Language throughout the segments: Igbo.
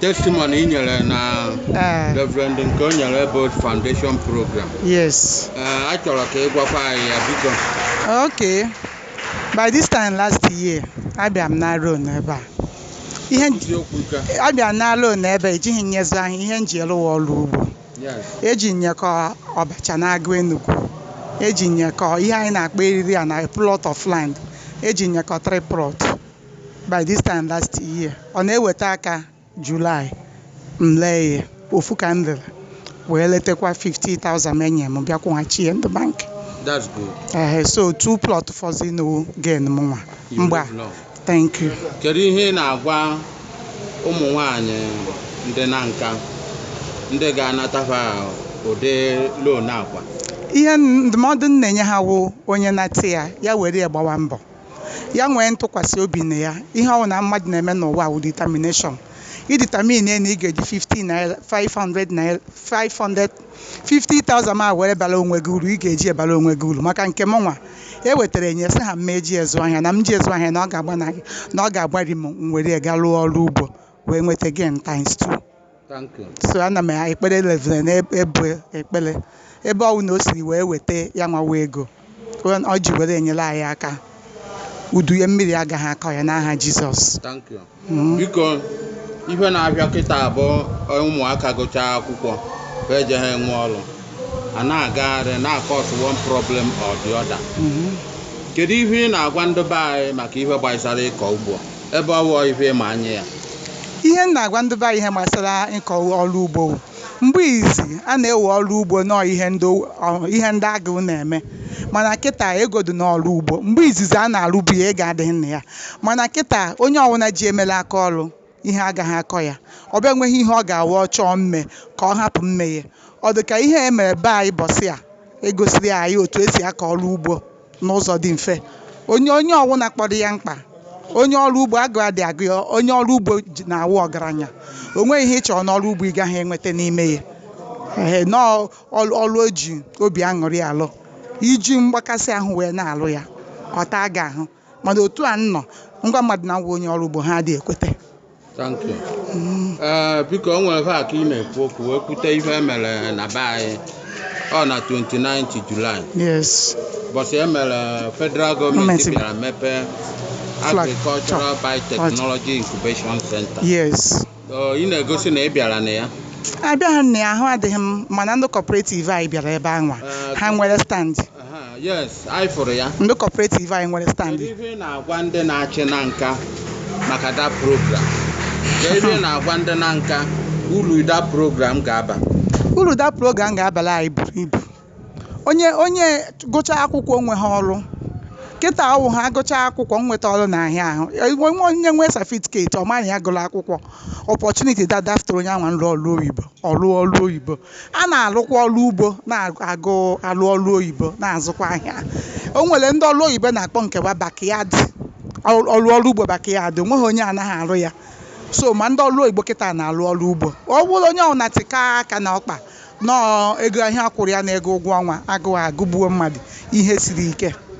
testimony i nyere na Eh, Reverend Nkeonyelu Foundation program yes. Eh, a chọrọ ka ị gwakwa anyị ya biko Okay. By this time last year, abịa m nara loan ebe a. Ihe m ji- eziokwu nke a. abịa m nara loan ebe a, ejighị m ya ezụ ahịa, ihe m ji ya rụ wụ ọrụ ugbo. Yes. Eji m ya kọọ ọbacha n'agụ Enugwu. Eji m ya kọọ ihe anyị na-akpọ eriri ana, plot of land. Eji m ya kọọ three plot. by this time last year ọ na-eweta aka July m lee ya ofu ka m lere wee letekwa 50,000 m enye m bịa kwụghachi ya ndị bank That's good. ehe so two plot fọzi nụ gain m nwa You mgba live long. thank you Kedu ihe ị na-agwa ụmụ nwanyị ndị na nka ndị ga-anatafa ụdị loan a kwa? ihe ndụmọdụ m na-enye ha wụ onye nata ya ya were ya gbawa mbọ Ya nwee ntụkwasị obi na ya. Ihe ọ bụla mmadụ na-eme n'ụwa a wụ determination. Ị determine na ị ga-eji 50 naira, 500 naira, 500, 50,000 ma were bara onwe gị uru, ị ga-eji e bara onwe gị uru. Maka nke mụnwa, e wetara enye sị ha m ma eji ezụ ahịa, na m ji ezụ ahịa na ọ ga-agbanarị, na ọ ga-agbari m, m were ya gaa rụọ ọrụ ugbo wee nweta gain times two. Thank you. so ana m ekpere Reverend na-ebu ekpere ebe ọwụna o siri wee weta ya nwa wụ ego ọ- ọ ji were enyere anyị aka udu ya mmiri agaghị akọ ya n'aha Jizọs Thank you. Mm. biko ife na-abịa kịta bụ ụmụaka gụchaa akwụkwọ eje ha enwe ọrụ a na-agagharị na-cause one problem or the other Mhm. kedu ihe ị na-agwa ndị be anyị maka ihe gbasara ịkọ ugbo ebe ọ wụ ife ị ma anya ya. Ihe m na-agwa ndị be anyị ihe gbasara ịkọ ọrụ ugbo wụ, mgbe izizi a na-ewe ọrụ ugbo nọọ ihe ndị ihe ndị agụụ na-eme mana kịta ego dị n'ọrụ ugbo. Mgbe izizi a na-arụbu ya ego adịghị na ya mana kịta onye ọwụna ji e mere aka ọrụ ihe agaghị akọ ya. Ọ bịa nweghị ihe ọ ga-awụ ọ chọọ mme ka ọ hapụ mme ya. Ọ dị ka ihe a e mere be anyị ụbọchị a e gosiri anyị otu e si akọ ọrụ ugbo. n'ụzọ dị mfe. Onye onye ọwụna kpọrọ ya mkpa. Onye ọrụ ugbo agụụ adị agụ ya, onye ọrụ ugbo ji- na-awụ ọgaranya. O nweghị ihe ị chọrọ n'ọrụ ugbo ị gaghị enweta n'ime ya. Ehe, nọọ ọrụ ọrụ e ji obi aṅụrị alụ. I ji mgbakasị ahụ wee na-alụ ya, ọ taa gị ahụ. Mana otu a m nọ, m gwa mmadụ na m wụ onye ọrụ ugbo, ha adịghị ekweta. Thank you. Ee, biko o nwere aka ị na-ekwu okwu wee kwute ife e mere na be anyị ọ na 29 Julaị yes bọsị e mere federal gọọmenti Gọọmenti bịara mepee Flag. Agricultural Biotechnology Incubation Center yes Ọ, ị na-egosi na ị bịara na ya abịaghị m na ya ahụ adịghị m mana ndị cooperative anyị bịara ebe anwa Ee, ha nwere stand yes anyị fụrụ ya ndị cooperative anyị nwere stand kedu ihe ị na-agwa ndị na-achị Nanka maka that program kedu ihe ị na-agwa ndị Nanka uru that program ga-aba uru that program ga-abara anyị buru ibu onye onye gụcha akwụkwọ o nweha ọrụ kịta ọ wụha gụcha akwụkwọ nweta ọrụ n'ahịa ahụ nwe onye nwee certificate ọ ma na ya gụrụ akwụkwọ opportunity da dafụtara onye anwa nrụ ọrụ oyibo ọrụ ọrụ oyibo a na-alụkwa ọrụ ugbo na-alụ ọrụ oyibo na-azụkwa ahịa o nwere ndị ọrụ oyibo na-akpọ nke wa backyard ọrụ ọrụ ugbo backyard o nweghị onye anaghị arụ ya so ma ndị ọrụ oyibo kịta na-alụ ọrụ ugbo ọ bụrụ onye ọbụla tikọọ aka na ọkpa nọọ ego ahụ a kwụrụ ya na ego ụgwọ ọnwa agụụ agụgbuo mmadụ ihe siri ike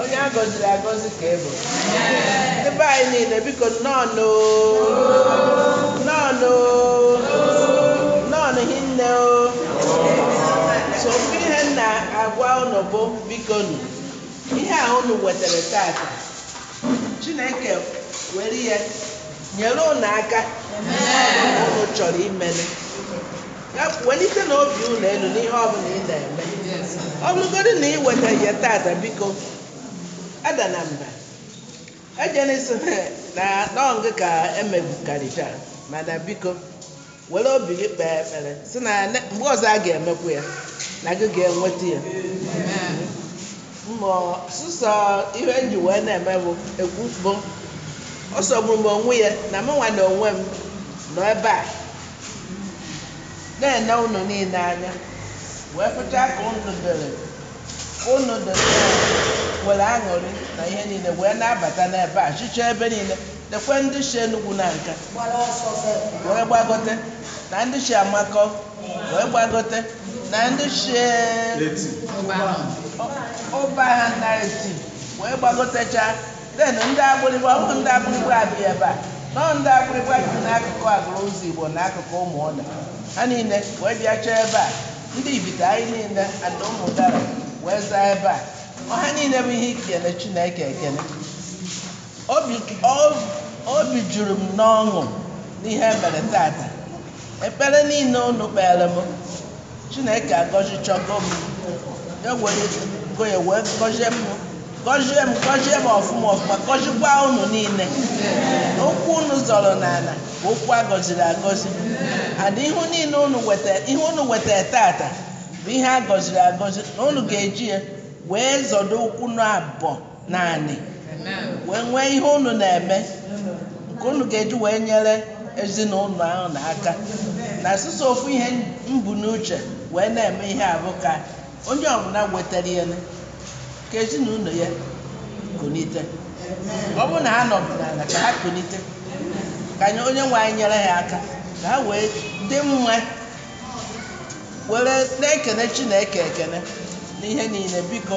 onye a gọziri agọzi ka ị bụ ndị be anyị niile biko nnọọnụ nnọọnụ nnọọnụ hinne o so ofu ihe m na-agwa unu bụ bikonụ ihe a unu wetara tata chineke were ya nyere unu aka unu chọrọ imere Ya bụ, welitenụ obi unu elu n'ihe ọ bụla ị na-eme. Ọ bụrụgodị na ị wetaghị ya tata, biko, adana mba. Ejena ịsị na ọ gị ka e megbukarịcha, mana biko, were obi gị kpee ekpere, sị na ne- mgbe ọzọ a ga-emekwu ya, na gị ga-enweta ya. Mụ ọ sọsọ ihe m ji wee na-eme bụ ekwu bụ ọ sọgburu m onwe ya na mụnwa na onwe m nọ ebe a na-ene unu niile anya wee fụcha ka unu dere ka unu dere were aṅụrị na ihe niile wee na-abata n'ebe a sicha ebe niile dekwe ndị si Enugwu Nanka wee gbagote na ndị si Amakọ wee gbagote na ndị si Ụbaha na Eti wee gbagotechaa Then ndị Agbịlịgba, ọ bụghị ndị Agbịlịgba bi ebe a, no ndị Agbịlịgba bi n'akụkụ Aguluzigbo na akụkụ Ụmụọna. Ha niile wee bịacha ebe a. Ndị Ibite anyị niile and Ụmụdala wee zaa ebe a. Ọ ha niile bụ ihe ikele Chineke ekele. Obi, o- obi juru m n'ọṅụ n'ihe e mere tata. Ekpere niile unu kpeere m, Chineke agọzichago m. Ya werego ya wee gọzie m, gọzie m, gọzie m ọfụma ọfụma, gọzikwa unu niile. Ụkwụ unu zọrọ n'ala bụ ụkwụ a gọziri agọzi. And ihe niile unu weta, ihe unu wetara tata bụ ihe a gọziri agọzi na unu ga-eji ya wee zọdo ụkwụ unu abụọ naanị wee nwee ihe unu na-eme nke unu ga-eji wee nyere ezinụlọ ahụ na aka na sọsọ ofu ihe m bu n'uche wee na-eme ihe a bụ ka onye ọbụla nwetara ya ka ezinụlọ ya kunite ọ bụrụ na ha nọbụ n'ala ka ha kunite ka anyị onye nwe anyị nyere ha aka ka ha wee dị mma were na-ekene Chineke ekene n'ihe niile biko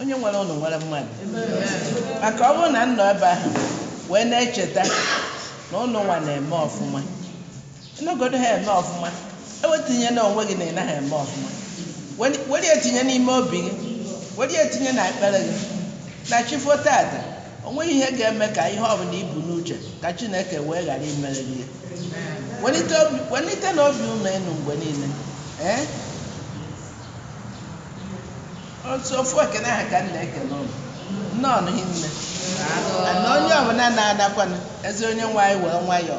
onye nwere unu nwere mmadụ maka ọ bụrụ na m nọ ebe ahụ wee na-echeta na unu nwa na-eme ọfụma Emegodu ha eme ọfụma. Ewetinyena onwe gị na ị naghị eme ọfụma. Were ya tinye n'ime obi gị. Were ya tinye na ekpere gị. Na chi fo tata, o nweghị ihe ga-eme ka ihe ọbụla i bu n'uche ka Chineke wee ghara imere gị ya. Welite obi, welitenụ obi unu elu mgbe niile. Ee? Otu ofu ekene ahụ ka m na-ekene unu. Nnọọnụ hinne. Na onye ọbụla na-anakwanụ, ezi Onyenwe anyị were nwayọọ